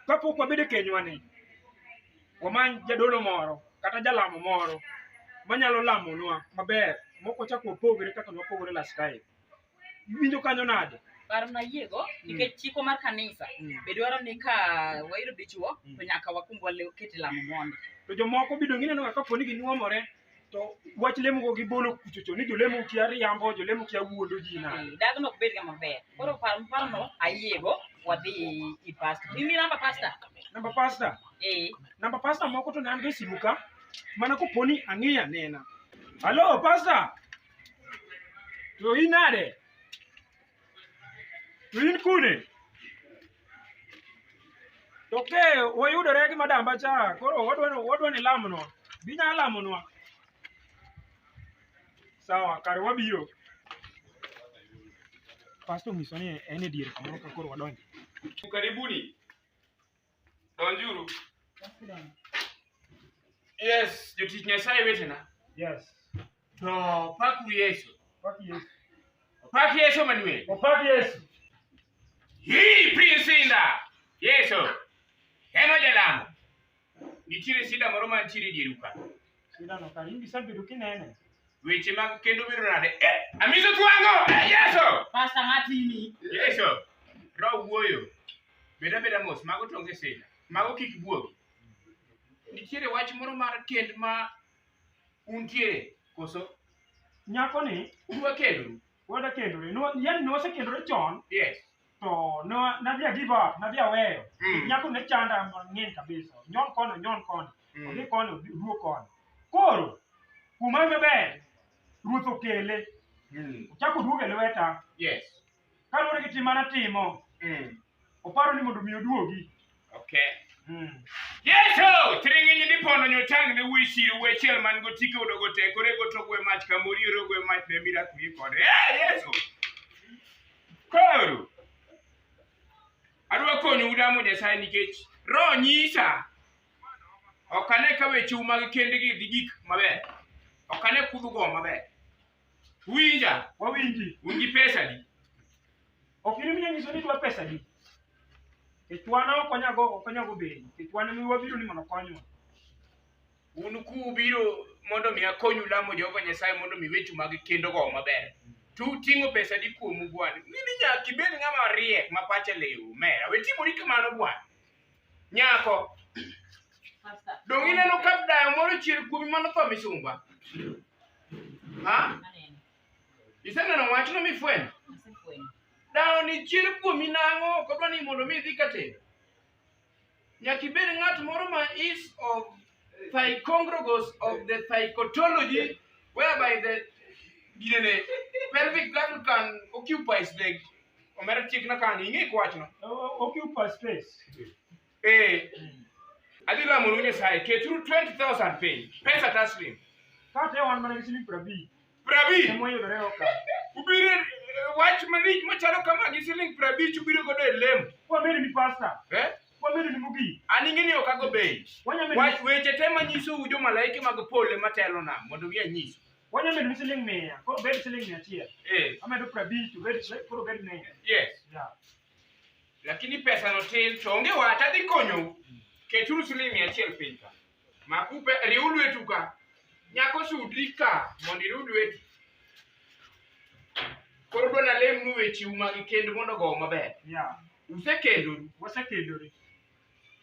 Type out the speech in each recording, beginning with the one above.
kapok wabedo e kenywani wamany jadolo moro kata jalamo moro manyalo lamonwa maber mok wachak wapogre kaka nwapogre last time Iwinjo kanyo nade? Paro na yiego mm. nikech chiko mar kanisa mm. be dwaro ni ka wayudo dichuo mm. to nyaka wakumb walew kete lamo mondo. To jomoko bido gineno kaka poni ginyuomore to wach lemo go gibolo kuchocho ni jolemo kia riambo jolemo kia wuondo ji na mm, dag no bed ga maber koro par par no ayiego wadhi i pasta imi namba pasta namba pasta eh namba pasta moko to nan be simuka mana ko poni ang'iya nena halo pasta To in nade? To in kune? To ke wayudore gi madamba cha, koro wadwa ni wadwa ni lamonwa. Binya lamonwa. Sawa, kare wabiro. Pastor nyiso ni en e dier kamoro ka koro wadonjo. Karibuni. Donjuru. Yes, jotich Nyasaye wetena. Yes. To pakuru Yesu. Pak Yesu. Pak Yesu Manuel. Opak Yesu. Hii piny sinda. Yesu. En ojalamo. Nitiere sinda moro mantiere e dieru ka. Sindano ka in gisebedo kinene. weche mag kendo biro nade eh, amiso twango eh, yeso pasta ngatini yeso ro wuoyo beda beda mos mago tonge sina mago kik buogi nitiere wach moro mar kend ma untie koso nyako ni uwa kendu Wada kendore. No, yani ne wasekendore chon Yes. to ne wa- nadhi a give up, nadhi aweyo. Mm. Nyako ne chanda mang'eny kabisa. Nyon koni, nyon koni. Mm. Odhi koni, odhi- duo koni. Koro, kuom an maber, ruoth okele. Mm. Ochako oduogo e lweta. Yes. Kaluwore gi tim manatimo, Mm. Oparo ni mondo mi oduogi. Okay. Hmm. Yesu, tiring'inyi dipono nyotang' ne wuyi siro we chiel man go tike udo go te kore go togwe mach kamori ro go mach ne mira kuyi kode. Eh, Yesu. Koro. Adwa konyo udamo Nyasaye nikech roho nyisa ok ane ka wecheu mag kendgi dhi gik maber ok ane kudhugo maber Winja, wawinji un gi pesa di? ok in minya nyiso ni dwa pesa di kech wan ok onyago ok onyago bedi kech wan mi wabiro ni mondo konywa Un kubiro mondo mi akonyu lamo Jehova Nyasaye mondo mi wechu mag kendo go maber. Tu ting'o pesa di kuomu bwana. Mimi nyaka ibed ng'ama riek ma pache lewu mera. We timori kamano bwana. Nyako. Dong ineno ka dayo moro chier kuomi mano tho misumba. Ha? Iseneno wachno mifwenyo? Dayo ni chier kuomi nang'o ok odwa ni mondo mi idhi katero. Nyaka ibed ng'at moro ma is of Thigocongregous of the thigotology whereby the ginene pelvic gland can occupy space. Omera chik na kan ing'e kwachno. Occupy space. Eh. Adhi lamo nu Nyasaye keturu 20,000 piny. Pesa taslim. Kata wan mana gi siling' prabich. Prabich. Ema oyudore oka. Ubiro eh, wach malich machalo kama gi siling prabich ubiro godo e lemo. Wabedo ni pasta. Eh? Wabedo ni mugi. An ing'e ni ok ago bei. Wach weche te manyiso u jo malaike mag pole matelo na mondo gi anyisu. Wanya medo ni siling mia. Koro bed siling mia achiel. Eh. Amedo prabich to bed koro bed mia. Yes. Yeah. Lakini pesa no tin to onge wata dhi konyo. Keturu siling mia achiel piny ka. Makupe, riw lwetu ka. Nyako sudri ka mondo iriw lweti. Koro dwa nalemnu wechiu mag kend mondo ogo maber. Ya, Usekendoru. wasekendore.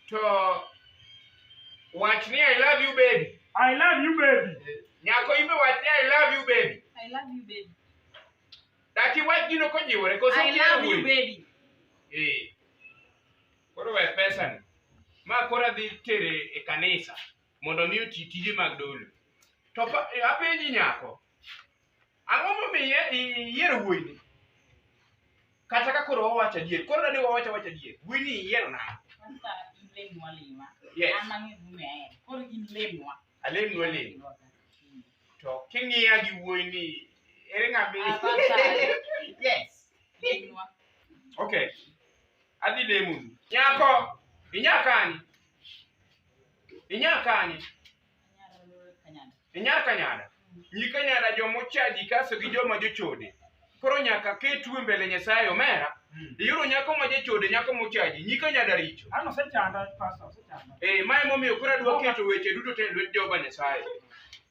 To wach ni I love you baby. I love you baby. Nyako in be wach ni I love you baby. I love you, baby. Daki wach gino kojiwore koso I kiero love you, wuoyi. baby. Eh. Koro we pesani. Ma koro adhi tere e kanisa mondo omi oti tije mag dolo. To pa- e, apenji nyako, ang'o momiyo i- iyiero wuoyini? Kata ka koro wawacho adier, koro dadi wawacho awacha adier, wuoyini iyiero nang'o? Kwanza in lemnwa lima. Yes. An ang'eyo gimomiyo ahero. Koro in lemnwa. Alemnwa lem. Mm. To king'iya gi wuoyini, ere ng'ama i- Abacha. Yes. Lemnwa. Okay. adhi lemonu nyako inya kanye inya kanye inya kanyada nyi kanyada jomochaji kaso gi joma jochode koro nyaka ketu e mbele nyasaye omera iyudo nyako ma jachode nyako mochaji nyi kanyada richo An osechanda pastor, osechanda. Eh, ma emomiyo koro adwa keto weche duto te e lwet Jehova Nyasaye.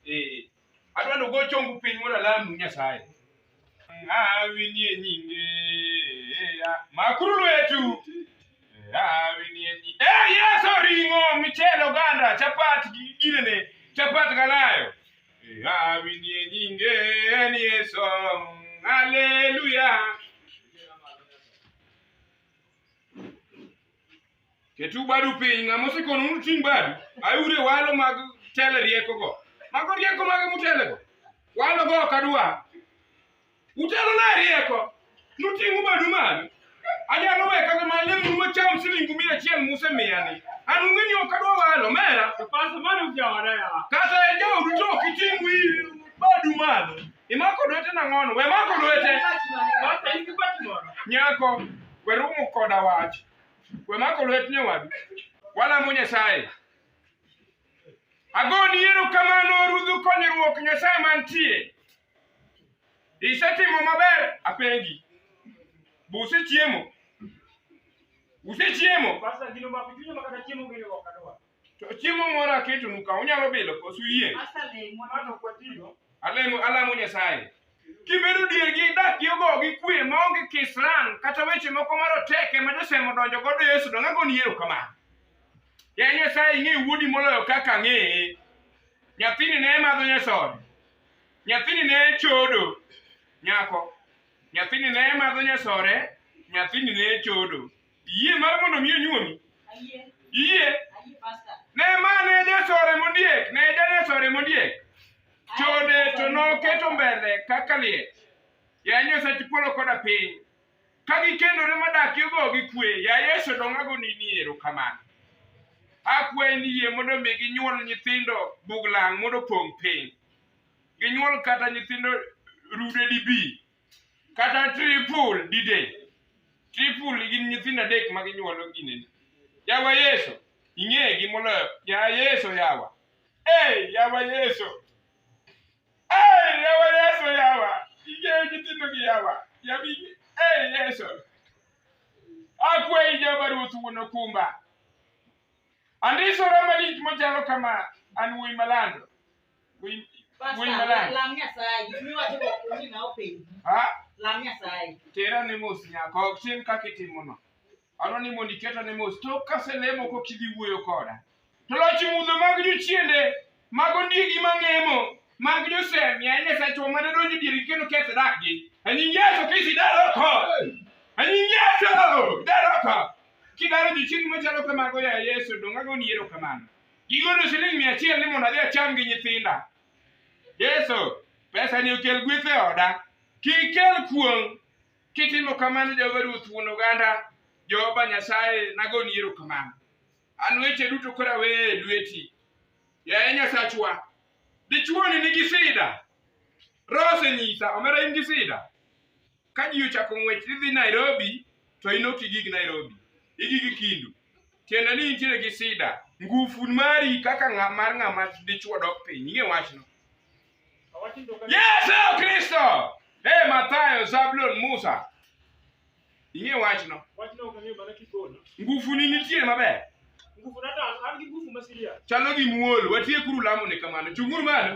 Eh, Adwa nogo chongu piny mondo alamnu Nyasaye. Awinie nyinge. Makuru lwetu. Awinie nyinge. Eh, Yesu ring'o, michele, oganda, chapat, gi- ginene, chapat galayo. Eh, Awinie nyinge en Yesu. Haleluya. Ketu badu piny, ng'ama osekonu mondo uting' badu, ayure walo mag tele riekogo. Mago rieko mage mutelego? Walo go ok adwa. Utelo na rieko, nuting'u badu malo. Anyalo we kata ma lemnu macham silingu mia achiel musemiya ni. An ung'e ni ok adwa walo, mera. Kata e jaodu to ok iting' wi badu malo. Imako lwete nang'ono? We mako lwete. Nyako, we rumo koda wach. We mako lwet nyawadu. Walamo Nyasaye. Agoni erokamano rudhu konyruok Nyasaye mantie. Isetimo maber apengi. Be usechiemo? Usechiemo? To chiemo moro aketonu ka unyalo bilo kosu yie. Alemo alamo Nyasaye. Kibedo dier gi dak gi ogo gi kwe ma onge kisran kata weche moko maroteke ma josemo donjo godo e Yesu donga goni ero kama. Ya Nyasaye ing'e wuodi moloyo kaka ang'eye. Nyathini ne madho nyasore. Nyathini ne chodo. Nyako. Nyathini ne madho nyasore. Nyathini ne chodo. Iyie mar mondo mi onyuomi? Ayie. Iyie? Ayie pastor. Ne ma ne jasore mondiek, ne janesore mondiek. Chode to noketo mbele kaka liech. Ya Nyasach polo koda piny. Ka gikendore madak yogo gi kwe, ya Yesu dong'ago ni ni erokamano. Akwayi ni yie mondo mi ginyuol nyithindo buglang' mondo opong' piny. Ginyuol kata nyithindo rude dibi. kata triple didel triple gin nyithindo adek ma ginyuolo ginene yawa yesu ing'egi moloyo ya yesu yawa hey, yawa yesu hey, yawa yesu yawa ing'e nyithindo gi yawa yawi hey, yesu akwayi jehova ruoth wuon okumba andisora malich machalo kama an wuoyi malando Winy- Pastor, winy maler. lam Nyasaye. Gik miwacho go ok onge ng'awo penji. Ha? Lam Nyasaye. tera ne mos nyaka ok tim kaka itimono adwa ni mondo iketa ne mos tok kaselemo kok idhi wuoyo koda to loch mudho mag jochiende mag ondiegi mang'emo mag josemi a nyasachwa mane donjo diergi kendo keth dakgi anying yeso kisi daroko anying yeso daroko kidaro jochiende machalo kamago ya yeso dongago ni ero kamano Gigolo shilingi mia achiel ni mondo adhi acham gi nyithinda. Yesu, pesa ni okel gweth e oda. Kik kel kuong'. Kitimo kamano Jehova Ruoth wuon oganda, Jehova Nyasaye nagoni erokamano. An weche duto koro aweyo e lweti. Yaye Nyasachwa, dichwoni nigi sida. Roho osenyisa, omera in gi sida. ka ji ochako ng'wech idhi Nairobi to in ok igik Nairobi igik Kindu tiende ni intiere gi sida ngufu mari kaka ng'a mar ng'ama dichuo dok piny ing'e wachno Yesu Kristo e Mathayo Zablon Musa ing'e wachno ngufuni nitie maber chalo gi muol watiekuru lamone kamano chunguru malo